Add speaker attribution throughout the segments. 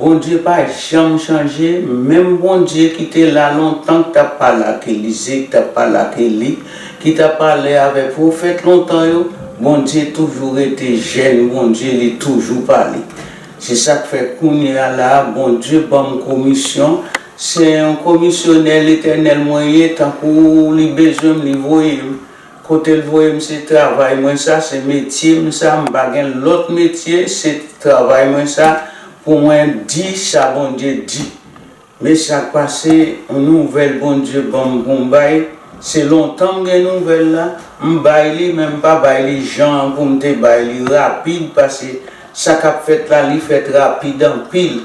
Speaker 1: Bondye pa janm chanje menm Bondye ki te la lontan ki tap pale ak Elize ki tap pale ak Eli ki tap pale avèk pwofèt lontan yo Bondye toujou rete jèn Bondye li toujou pale se sak fè kounye a la Bondye banm komisyon se yon komisyonè letènèl mwen ye tankou li bezwen m li voye m Kotel voyem se travay mwen sa se metyem sa m pa gen lot metye se travay mwen sa pou mwen di sa Bondye di me sak pase yon nouvel Bondye banm pou m bay se lontan m gen nouvel la m bay li men m pa bay li jan pou m te bay li rapid pase sa kap fèt la li fèt rapid anpil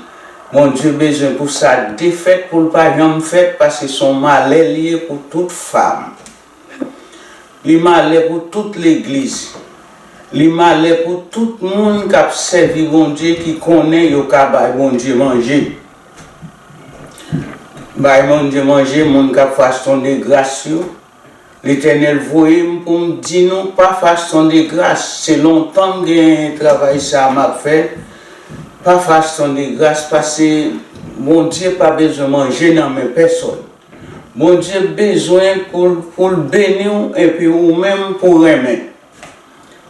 Speaker 1: Bondye bezwen pou sa defèt pou l pa janm fèt pase son malè liye pou tout fam. Li malè pou tout legliz. Li malè pou tout moun k ap sèvi Bondye ki konnen yo ka bay Bondye manje. Bay Bondye manje moun k ap faston degras yo. Letènèl voye m pou m di nou pa faston degras, se lontan m gen travay sa a m ap fè, pa faston degras pase Bondye pa bezwen manje nan men pèsòn. Bondye bezwen pou l beni w epi ou menm pou renmen.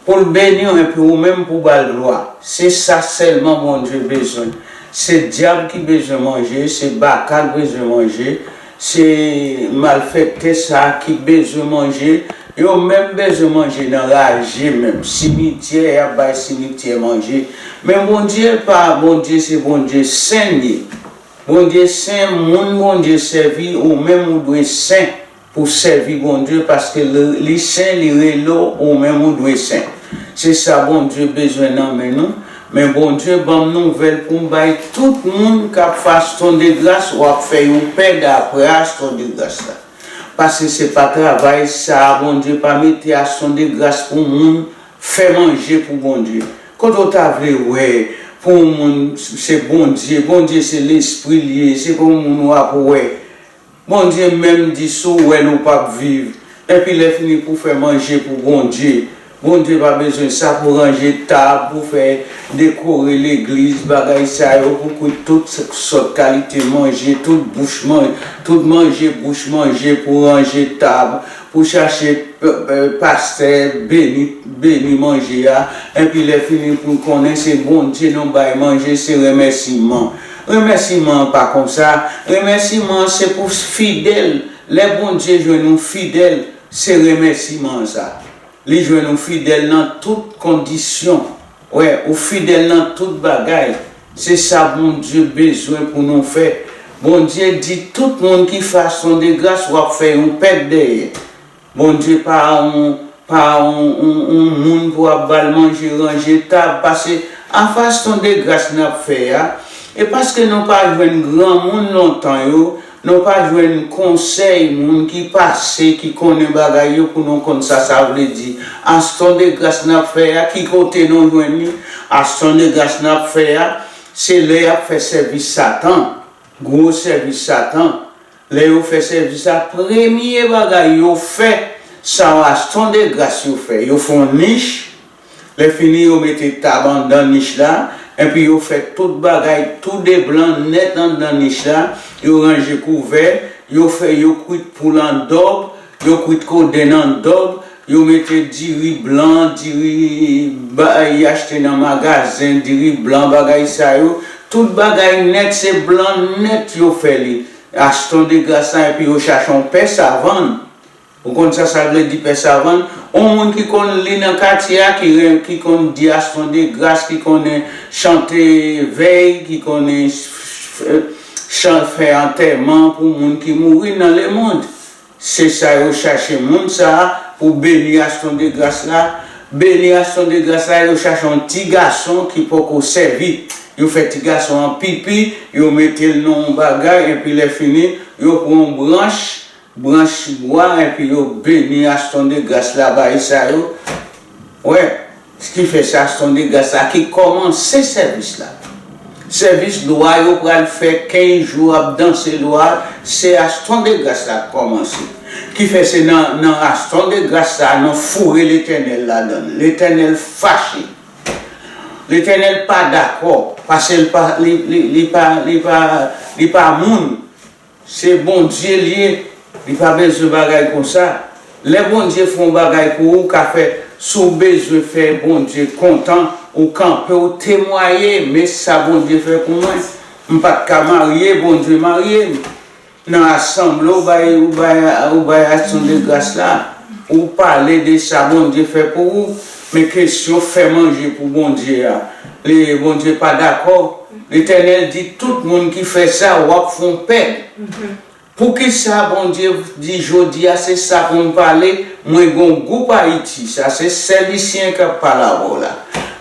Speaker 1: Pou l beni w epi ou menm pou ba l glwa. Se sa sèlman Bondye bezwen. Se dyab ki bezwen manje, se baka l bezwen manje, se malfèktè sa ki bezwen manje. Yo menm bezwen manje nan raje menm. Simityè y ap bay simityè manje. Men Bondye pa Bondye se Bondye sen l ye. Bondye sen moun Bondye sèvi ou menm ou dwe sen pou sèvi Bondye paske li sen li rele w ou menm ou dwe sen se sa Bondye bezwen nan men nou men Bondye banm nouvèl pou m bay tout moun kap fas ton de gras wap fè yo pè dapras ton de gras la pase se pa travay sa Bondye pa mete a son de gras pou moun Fè manje pou Bondye. Kote w ta vle wè pou yon moun se Bondye? Bondye se lespri l ye, se pa yon moun w ap wè. Bondye menm di si w wè l ou p ap viv. Enpi lè fini pou fè manje pou Bondye. Bondye pa bezwen sa pou ranje tab, pou fè dekore legliz, bagay sa yo pou kwit tout sòt kalite manje, tout bouch manje, tout manje bouch manje pou ranje tab, Pou chache pastè beni beni manje a enpi lè fini poun konnen se Bondye nou bay manje se remèsiman remèsiman an pa konsa remèsiman an se pou fidèl lè Bondye jwenn ou fidèl se remèsiman an sa li jwenn ou fidèl nan tout kondisyon. Wè ou fidèl nan tout bagay se sa Bondye bezwen pou nou fè Bondye di tout moun ki fason de gras wap fè yon pèt dèyè Bondye pa yon pa yon yon moun pou ap bal manje ranje tab pase a faston de gras nap fè a e paske nou pa jwenn granmoun lontan yo Nou pa jwenn konsèy moun ki pase ki konnen bagay yo pou nou konn sa sa vle di aston de gras nap fè a ki kote nou jwenn li aston de gras nap fè a se lè yap fè sèvis satan gwo sèvis satan lè yo fè sèvis a premye bagay yo fè sa aston de gras yo fè yo fon nich Lè fini yo mete tab anndan nich la, enpi yo fè tout bagay tou de blan nèt anndan nich la, yo ranje kouvè, yo fè yo kwit poul an dòb, yo kwit kodenn an dòb, yo mete diri blan, diri y achte nan magazen, diri blan bagay sa yo, tout bagay nèt se blan nèt yo fè li, Aston de Gras la enpi yo chache yon pè savann Ou konn sa sa vle di pè savann? On moun ki konn li nan katye a ki ren ki konn di aston de gras ki konnen chante vèy ki konnen chan fè antèman pou moun ki mouri nan lemond se sa yo chache moun sa pou beni aston de gras la beni aston de gras la yo chache on ti gason ki poko sèvi yo fè ti gason an pipi yo mete l nan on bagay enpi lè fini yo pran on branch Branch bwa epi yo beni Aston de Gras la bay sa yo wè s ki fè se Aston de Gras la ki kòmanse sèvis la sèvis lwa yo pral fè 15 jou ap danse lwa se Aston de Gras la k kòmanse ki fè se nan nan Aston de Gras sa a nou foure Letènèl ladan l Letènèl fache Letènèl pa dakò pase l pa li pa li pa li pa moun. Se Bondye liye li pa bezwen bagay konsa lè Bondye fè yon bagay pou ou ka fè si w bezwen fè Bondye kontan ou kanpe w temwaye men sa Bondye fè pou mwen m pat ka marye Bondye marye m nan asanble w bay ou bay aksyon de gras la ou pale de sa Bondye fè pou ou men kesyon fè manje pou Bondye a Bondye pa dakò Letènèl di tout moun ki fè sa wap fon pèn poukisa Bondye di jodia se sa poum pale mwen gon gou p ayiti sa se sè Lucien kap pale avèw la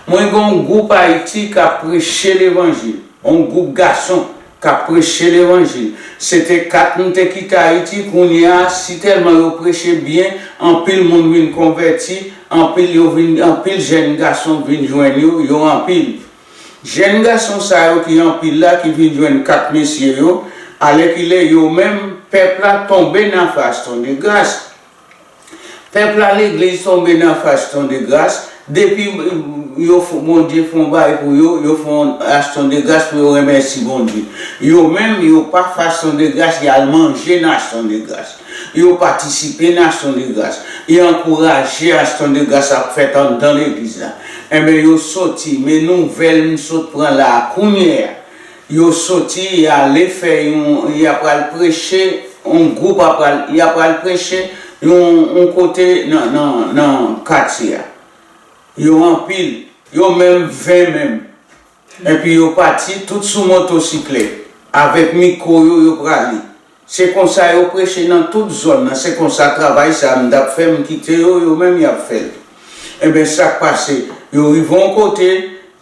Speaker 1: mwen gon gou p ayiti kap preche levanjil on goup gason kap preche levanjil se te 4 m te kite ayiti kounyea si tèlman yo preche byen anpil moun vin konvèti anpil yo vin anpil jèn gason vin jwenn yo yo anpil Jèn gason sa yo ki anpil la ki vin jwenn kat mesye yo, alèkile yo menm pèp la tonbe nan fas ton de gras. Pèp la legliz tonbe nan fas ton de gras, depi yo Bondye fon bagay pou yo, yo fon aston de gras pou yo remèsi Bondye. Yo menm yo pa fas ton de gras yal manje nan aston de gras. yo patisipe nan Aksyon de Gras, yo ankouraje Aksyon de Gras ap fèt anndan legliz la. Enben yo soti, men nouvèl m sot pran la a kounye a, yo soti y ale fè yon, y apral preche, yon gwoup apral, y apral preche yon yon kote nan nan nan katye a. Yo anpil, yo menm 20 menm. Enpi yo pati, tout sou motosiklèt. Avèk mikwo yo, yo prale. Se konsa yo preche nan tout zòn nan. Se konsa travay sa a m t ap fè, m kite yo, yo menm y ap fè l. Enben, sa k pase? Yo rive yon kote,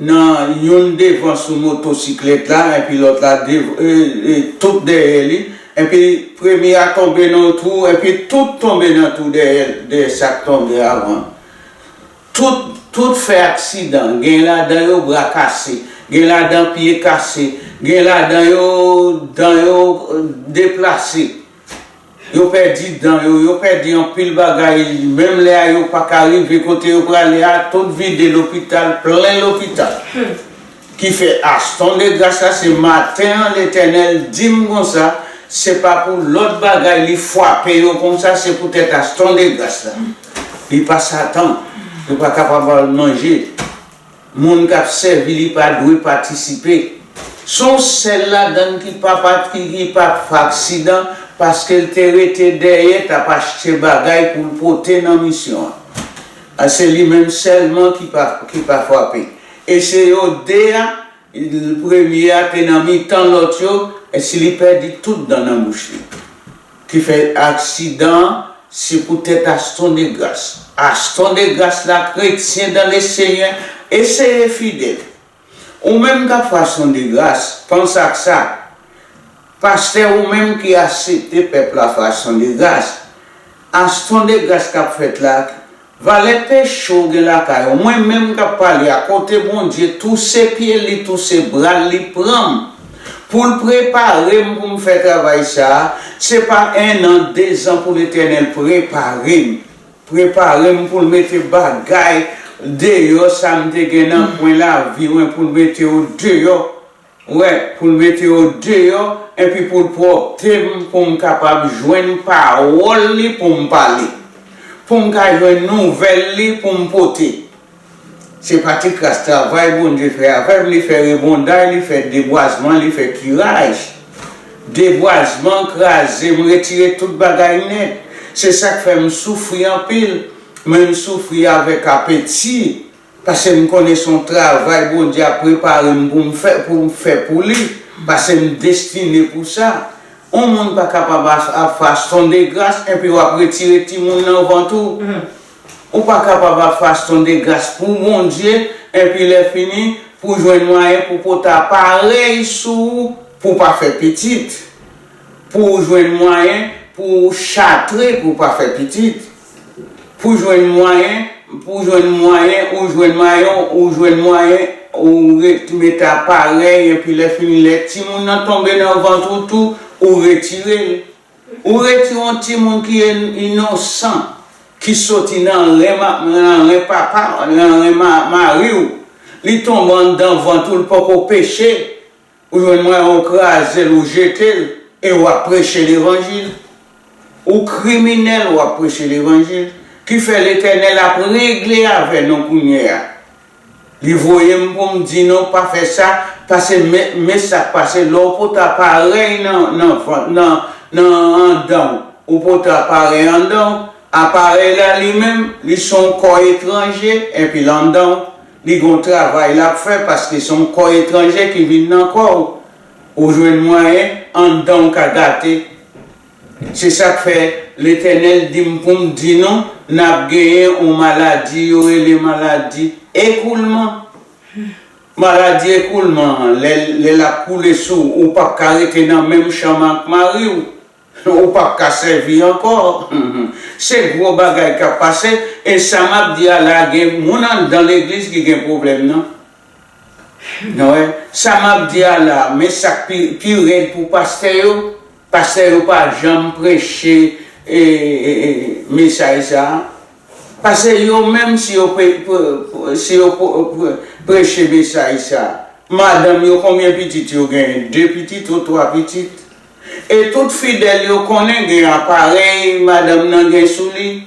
Speaker 1: nan, youn devan sou motosiklèt la, enpi lòt la dev, e, tout dèyè li, enpi premye a tonbe nan yon twou, enpi tout tonbe nan twou dèyè l, dèyè sa k tonbe avan. Tout, tout fè aksidan, gen ladan yo bra kase, gen ladan pye kase, gen ladan yo dan yo deplase, yo pèdi dan yo, yo pèdi anpil bagay, menm lè a yo paka rive kote yo prale a, tout vide lopital, plen lopital. Ki fè Aston de Gras la se maten an Letènèl di m konsa, se pa pou lòt bagay li fwape yo konsa, se poutèt Aston de Gras la. Li pa Satan, yo pa kapab ba l manje. Moun k ap sèvi li pa dwe patisipe. S on sèl ladan l ki pa pa ki pa fè aksidan paske l te rete dèyè t ap achte bagay pou l pote nan misyon an. Se li menm sèlman ki pa ki pa fwape. E se yo 2 a, premye a te nan mitan lòt yo, si li pèdi tout dan nan bouch li. Ki fè aksidan an, se pou tèt Aston Degras. Aston Degras la kretyen dan le Senyè, eseye fidèl. Ou menm k ap fè Aston Degras, panse ak sa. Pastè ou menm ki asepte pèp la fè Aston Degras, Aston Degras k ap fèt la, Valè peche w gen lakay ou mwen menm kap pale a kote Bondye touse pye li touse bral li pranm poul preparem poum fè travay sa se pa 1 an 2 zan pou letènèl preparem preparem poul mete bagay deyò sam te gen nan kwen lavi mwen poul mete yo deyò Wè, pou l mete yo deyò, enpi pou l pwòpte m, pou m kapab jwenn pawòl li pou m pale, pou m ka jwenn nouvèl li pou m pote. Se pa ti kras travay Bondye fè avè m, li fè rebonday, li fè debwazman, li fè kiraj. Debwazman kraze m, retire tout bagay nèt. Se sa k fè m soufri anpil, men m soufri avèk apeti. Pasem konnen son travay Bondye ap preparem poum fè poum fè pou li pasem destine pou sa on moun pa kapab ap faston de gras enpi wap retire timoun nan vant ou ou pa kapab ap faston de gras pou Bondye enpi lè fini pou jwenn mwayen pou pote aparèy sou ou pou pa fè pitit pou ou jwenn mwayen pou ou chatre pou pa fè pitit. Pou jwenn mwayen Pou jwenn mwayen ou jwenn mayon ou jwenn mwayen ou ret met aparèy enpi lè fini lè timoun nan tonbe nan vant ou tou ou retire l ou retire yon timoun ki inosan ki soti nan ren nan ren papa nan ren mari w li tonbe anndan vant ou l poko peche Ou jwenn mwen ou kraze l ou jete l e w ap preche levanjil? Ou kriminèl w ap preche levanjil? Kifè Letènèl ap regle avè nou kounyea. Li voye m pou m di nou pa fè sa pase me me sa k pase lè w pot aparèy nan nan vant nan nan andan w ou pot aparèy andan w aparèy la li menm li s on kò etranje enpi l andan w Li gon travay lap fè paske son kò etranje ki vin nan kòw ou jwenn mwayen anndanw ka gate se sak fè letènèl dim poum di nou nap genyen on maladi yo rele maladi ekoulman maladi ekoulman an lè lap koule sou ou pap ka rete nan menm chanm ak mariw. Ou pap ka sèvi ankò. Se gwo bagay kap pase e sa map di a la gen moun anndan legliz ki gen pwoblèm nan. Nou wè, sa map di a la, men sak pi pi rèd pou pastè yo, pastè yo pa janm preche mesaj sa a. Pase yo menm si yo si yo preche mesaj sa a, madanm yo konbyen pitit yo genyen? 2 pitit ou 3 pitit? E tout fidèl yo konnen gen aparèy madanm nan gen sou li,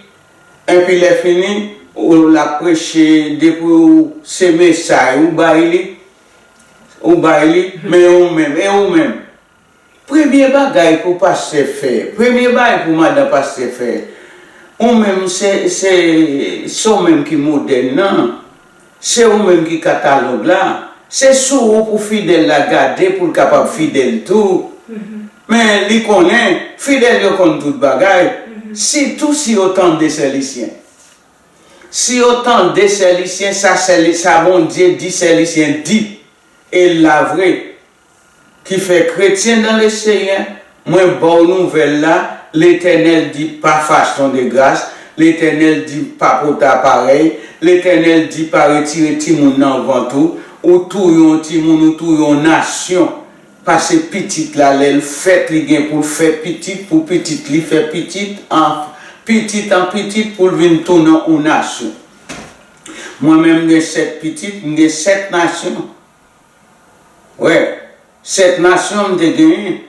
Speaker 1: enpi lè fini ou l ap preche depi ou se mesay ou bay li, ou bay li, men ou menm, e ou menm? Premye bagay pou pastè fè, premye bagay pou madan pastè fè, ou menm se se se w menm ki modèl nan. Se ou menm ki katalòg la, se sou ou pou fidèl la gade pou l kapab fidèl tou. Men, li konnen, fidèl yo konn tout bagay, sitou si yo tande Sè Lisyen. Si yo tande Sè Lisyen, sa Sè, sa Bondye di Sè Lisyen di, e l la vre, Ki fè kretyen nan le Senyè, mwen baw nouvèl la, Letènèl di pa faston de gras, Letènèl di pa pote aparèy, Letènèl di pa retire timoun nan vant ou, ou touye yon timoun ou touye yon nasyon, pase pitit la lèl fèt li gen poul fè pitit pou pitit li fè pitit an pitit an pitit poul vin tounen yon nasyon. Mwen menm mgen 7 pitit, mgen 7 nasyon Wè, sèt nasyon m te genyen,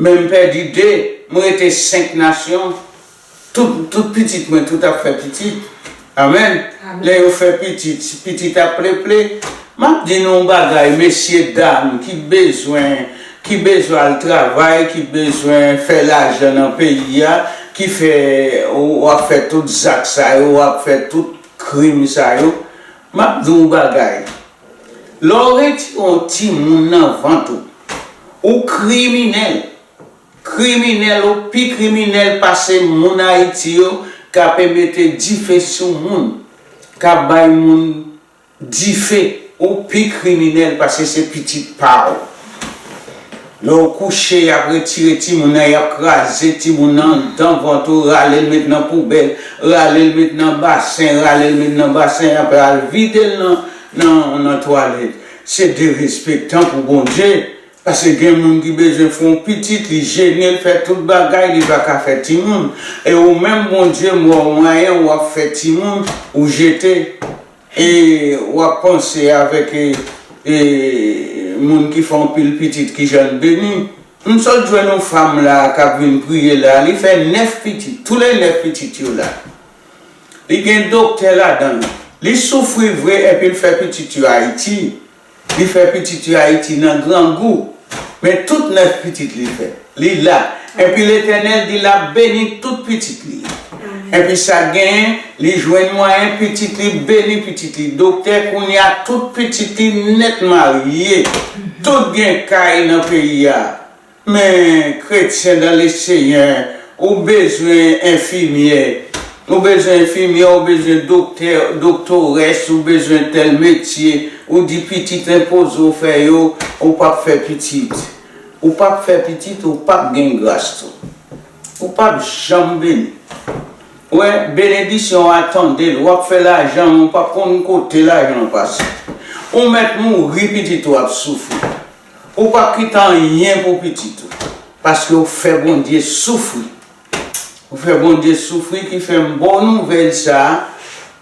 Speaker 1: men m pèdi de, m rete senk nasyon. Tout, tout pitit mwen tout ap fè pitit. Amen. Lè yo fè pitit, pitit ap pleple. M ap di nou yon bagay, mesye, dam, ki bezwen, ki bezwen al travay, ki bezwen fè lajan nan peyi a, ki fè, w ap fè tout zak sa yo, w ap fè tout krim sa yo, m ap di w yon bagay. Lè w retire yon timoun nan vant ou, ou kriminèl. Kriminèl ou pi kriminèl pase moun Ayiti yo k ape mete dife sou moun, k ap bay moun dife, ou pi kriminèl pase se pitit pa w. Lè ou kouche yap retire timoun nan yap kraze timoun nan dan vant ou ralel met nan poubèl ralel met nan basen ralel met nan basen aprè al videl nan nan twalèt se derespektan pou Bondye paske gen moun ki bezwen fè yon pitit li jenel fè tout bagay li paka fè timoun e ou menm Bondye m wè ou mwayen ou ap fè timoun ou jete E wap panse avek e moun ki fè yon pil pitit kijanl beni. M sot jwenn yon fanm la kap vin priye la li fè 9 pitit tou le 9 pitit yo la li gen doktè ladanl li soufri vre epil fè pitit yo ayiti Li fè pitit yo Ayiti nan grangou, men tout 9 pitit li fè. Li la, enpi Letènèl di lap beni tout pitit li yo. Enpi sak genyen, li jwenn mwayen pitit li beni pitit li doktè kounya tout pitit li nèt marye, tout gen kay nan peyi a. Men kretyen dan le Seyè ou bezwen enfimyè ou bezwen enfimyè ou bezwen doktè doktores ou bezwen tèl metye ou di pitit enpoze w fè yo ou pap fè pitit ou pap fè pitit ou pap gen gras tou ou pap janm beni wè benedisyon a tande l wap fè lajan men w pap konn kote lajan an pase ou mèt mouri pitit ou ap soufri. Ou pap kite anyen pou pitit ou paske ou fè Bondye soufri ou fè Bondye soufri ki fèm baw nouvèl sa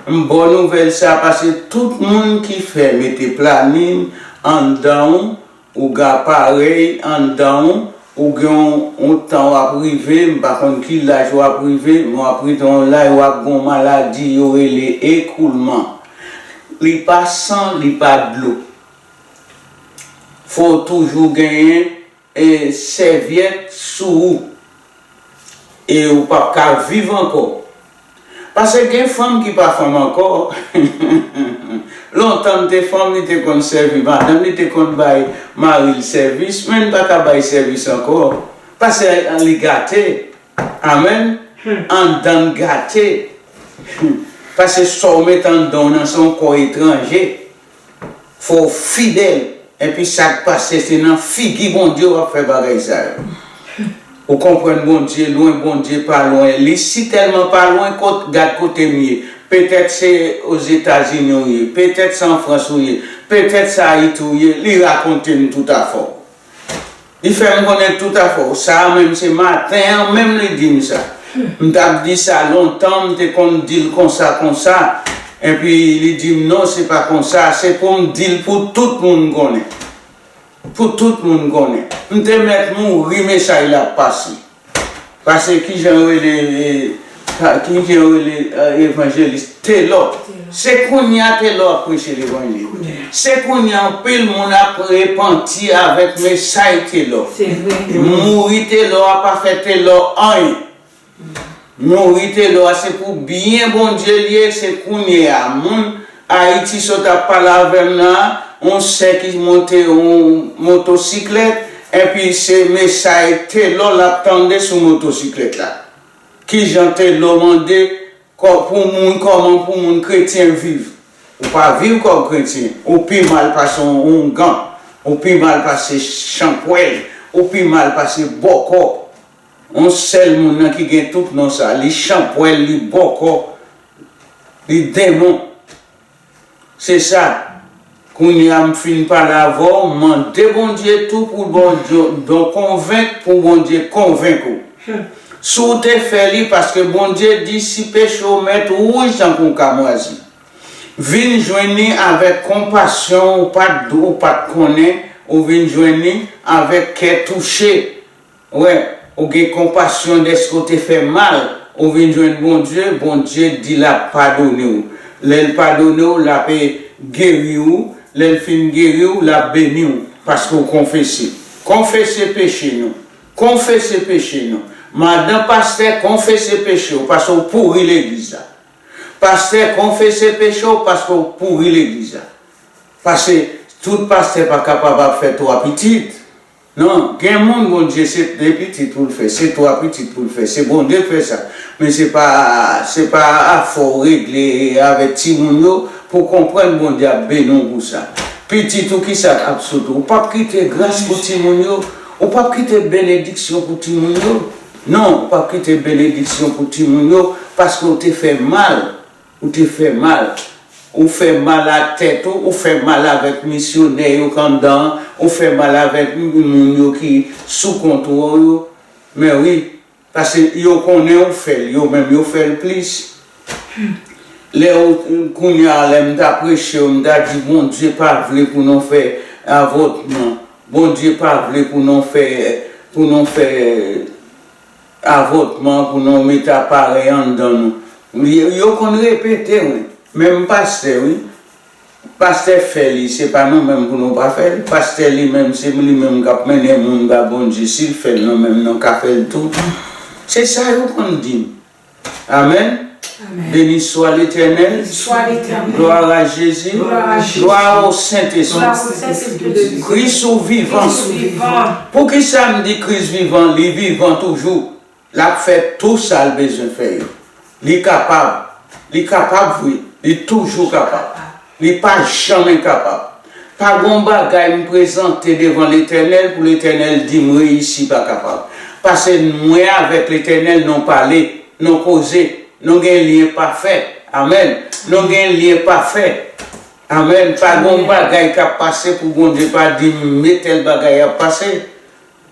Speaker 1: m baw nouvèl sa pase tout moun ki fè mete planin anndanw ou gen aparèy anndanw ou gen yon tan wap rive m pa konn ki laj wap rive men wap rive yon laj wap gen yon maladi yo rele ekoulman li pa san li pa dlo. Fò w toujou genyen sèvyèt sou ou. E ou p ap ka viv ankò. Pase gen fanm ki pa fanm ankò. Lontan li te fanm, li te konn sèvi madanm li, li te konn bay mari l sèvis, men li pa ka bay sèvis ankò. Pase li gate. Amèn. Anndan l gate. Pase sa w met anndan w nan se yon kò etranje. Fow fidèl enpi sak pase se nan figi Bondye wap fè bagay sa yo ou konprann Bondye lwen Bondye pa lwen li si tèlman pa lwen kot gad kotem ye petèt se ozetazini ou ye petèt se an frans ou ye petèt se ayiti ou ye li rakontem toutafon. Li fè m konnen tout afè w sa a menm se maten an menm li di m sa. M t ap di sa lontan m te konn di l konsa konsa enpi li di m non se pa konsa se pou m di l pou tout moun konnen. Pou tout moun konnen. M te mèt mouri mesaj la ap pase. Pase kijan yo rele kijan yo rele evanjelis telò se kounya telò ap preche levanjil se kounya anpil moun ap repanti avèk mesay telò
Speaker 2: mouri telò
Speaker 1: a pa fè telò anyen. Non Rithelor a se pou byen Bondye l ye se kounye a moun Ayiti sa w t ap pale avè m nan an on sè ki monte on motosiklèt enpi se mesay Thelor l ap tande sou motosiklèt la kijan Thelor mande kòb pou moun kòman pou moun kretyen viv ou pa viv kòb kretyen ou pi mal pase on oungan ou pi mal pase chanpwèl ou pi mal pase bòkò On sèl moun nan ki gen tout non sa, li chanpwèl, li bòkò, li denmon. Se sa, kounye a m fin pale avè w, mande Bondye tou pou don konvenk pou Bondye konvenk ou. Si w te fè li, paske Bondye di si peche w mèt ou wouj tankou yon kamwazi, vin jwenn li avèk konpasyon ou pa t konnen, ou vin jwenn li avèk kè touche. Wè, ou gen konpasyon dèske w te fè mal, ou vin jwenn Bondye, Bondye di l ap padone w. Lè l padone w, l ape geri ou, lè l fin geri w, l ap beni w, paske w konfese. Konfese peche nou! Konfese peche nou! Madan pastè, konfese peche w, paske w pouri legliz la. Pastè, konfese peche w, paske w pouri legliz la. Pase, tout pastè pa kapab ap fè twa pitit. Non gen moun Bondye se 2 pitit poul fè se 3 pitit poul fè se Bondye k fè sa men se pa se pa afè w regle avèk timoun yo pou konprann Bondye ap beni w pou sa pitit ou kisa k ap sot ou ou pap kite gras pou timoun yo ou pap kite benediksyon pou timoun yo non ou pap kite benediksyon pou timoun yo paske w te fè mal Ou te fè mal. Ou fè mal a tèt ou, ou fè mal avèk misyonè yo k anndan an, ou fè mal avèk moun yo ki sou kont ou yo. Men wi, pase yo konnen ou fè l, yo menm yo fè l plis. Lè ou, kounye a lè m ta preche yo, m ta di Bondye pa vle pou nou fè avòtman, Bondye pa vle pou nou fè, pou nou fè. Avòtman pou nou met aparèy anndan nou yo konn repete wi menm pastè wi pastè fè li se pa nou menm pou nou pa fèl pastè li menm se li menm kap mennen moun ba Bondye sil fèl nou menm nou ka fèl tou se sa yo konn dim amen. Beni swa letènèl glwa a jezi glwa a ou sentespri kris ou vivan poukisa m di kris vivan li vivan toujou lap fè tou sal bezwen fè yo li kapab li kapab wi li toujou kapab Li pa janm enkapab. Pa gon bagay m prezante devan Letènèl pou Letènèl di m reyisi pa kapab. Pase mwen avèk Letènèl non pale, non koze, non gen lyen pafè. Amèn. Non gen lyen pafè. Amèn. Pa gon bagay k ap pase pou Bondye pa di m me tèl bagay ap pase.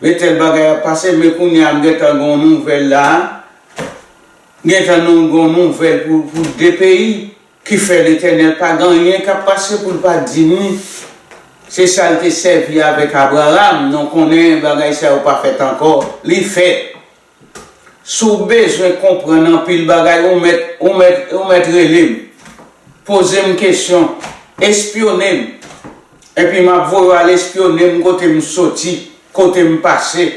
Speaker 1: Me tèl bagay ap pase. Me kounye a m gen tan gen yon nouvèl la a. M gen tan gen yon nouvèl pou de peyi. Ki fè Letènèl pa gen anyen k ap pase pou l pa di nou, se sa l te sèvi avèk Abraram, nou konnen bagay sa yo pa fèt ankò, li fèt. Si w bezwen konprann anpil bagay ou mèt, ou mèt, ou mèt rele m, poze m kesyon, espyone m, enpi m ap voye w al espyone m kote m soti, kote m pase.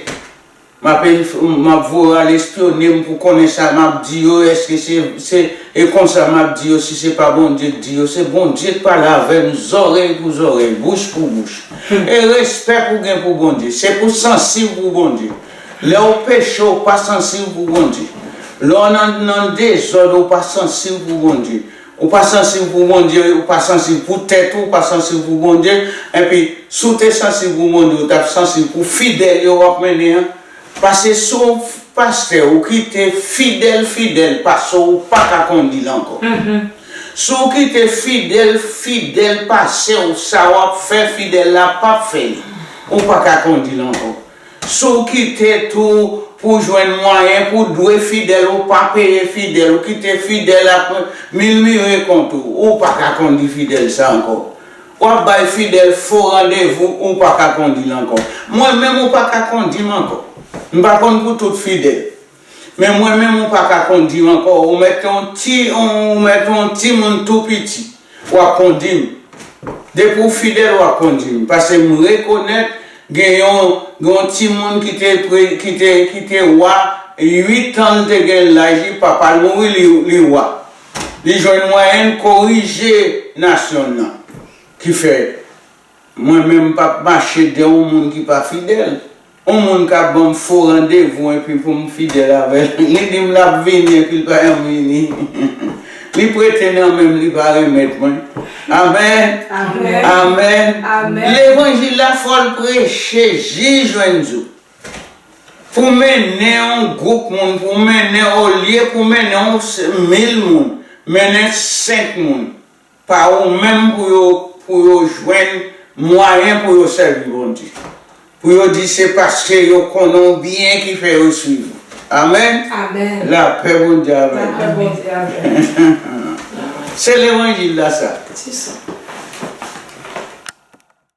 Speaker 1: Map inf map voye al espyone m pou konnen sa map di yo eske se se e konsa map di yo si se pa Bondye k di yo se Bondye k pale avè m zòrèy pou zòrèy bouch pou bouch e respè pou gen pou Bondye se pou sansiv pou Bondye lè ou peche ou pa sansiv pou Bondye lè w nan nan dezòd ou pa sansiv pou Bondye Ou pa sansib pou Bondye, ou pa sansib pou tèt ou, ou pa sansib pou Bondye, enpi si w te sansib pou Bondye ou tap sansib pou fidèl yo wap mennen an, pase si w on pastè ou kite fidèl fidèl pase w ou paka kondi l ankò. Si w kite fidèl fidèl pase w sa wap fè fidèl la pap fè li, ou paka kondi l ankò. Si w kite tou pou jwenn mwayen pou w dwe fidèl ou pa peye fidèl ou kite fidèl ap milmire kont ou ou pa ka kondi fidèl sa ankò w ap bay fidèl fo randevou ou pa ka kondi l ankò mwen menm ou pa ka kondi m ankò m pa konn pou tout fidèl. Men mwen menm ou paka kondi ankò ou mèt yon ti ou mèt yon timoun tou piti wap kondi m depi w fidèl wap kondi m pase m rekonèt gen yon gen yon timoun ki te ki te ki te wa 8 an l te gen laj li papa l mouri li li wa li jwenn mwayen l korije nasyon l nan ki fè Mwen menm m pap mache dè on moun ki pa fidèl. On moun ka banm fo randevou enpi pou m fidèl avè l. Li di m l ap vini enpi l pa janm vini. Li prete nan men m li pa renmèt mwen. Amèn!
Speaker 2: Amèn!
Speaker 1: Levanjil
Speaker 2: la fò
Speaker 1: l preche jis jwenn zo. Pou mennen on gwoup moun, pou mennen olye pou mennen on mil moun, mennen senk moun. pa ou menm pou yo pou yo jwenn mwayen pou yo sèvi Bondye pou yo di se paske yo konnen w byen ki fè yo swiv ou amen lapè
Speaker 2: Bondye
Speaker 1: avèw se
Speaker 2: levanjil
Speaker 1: la
Speaker 2: sa.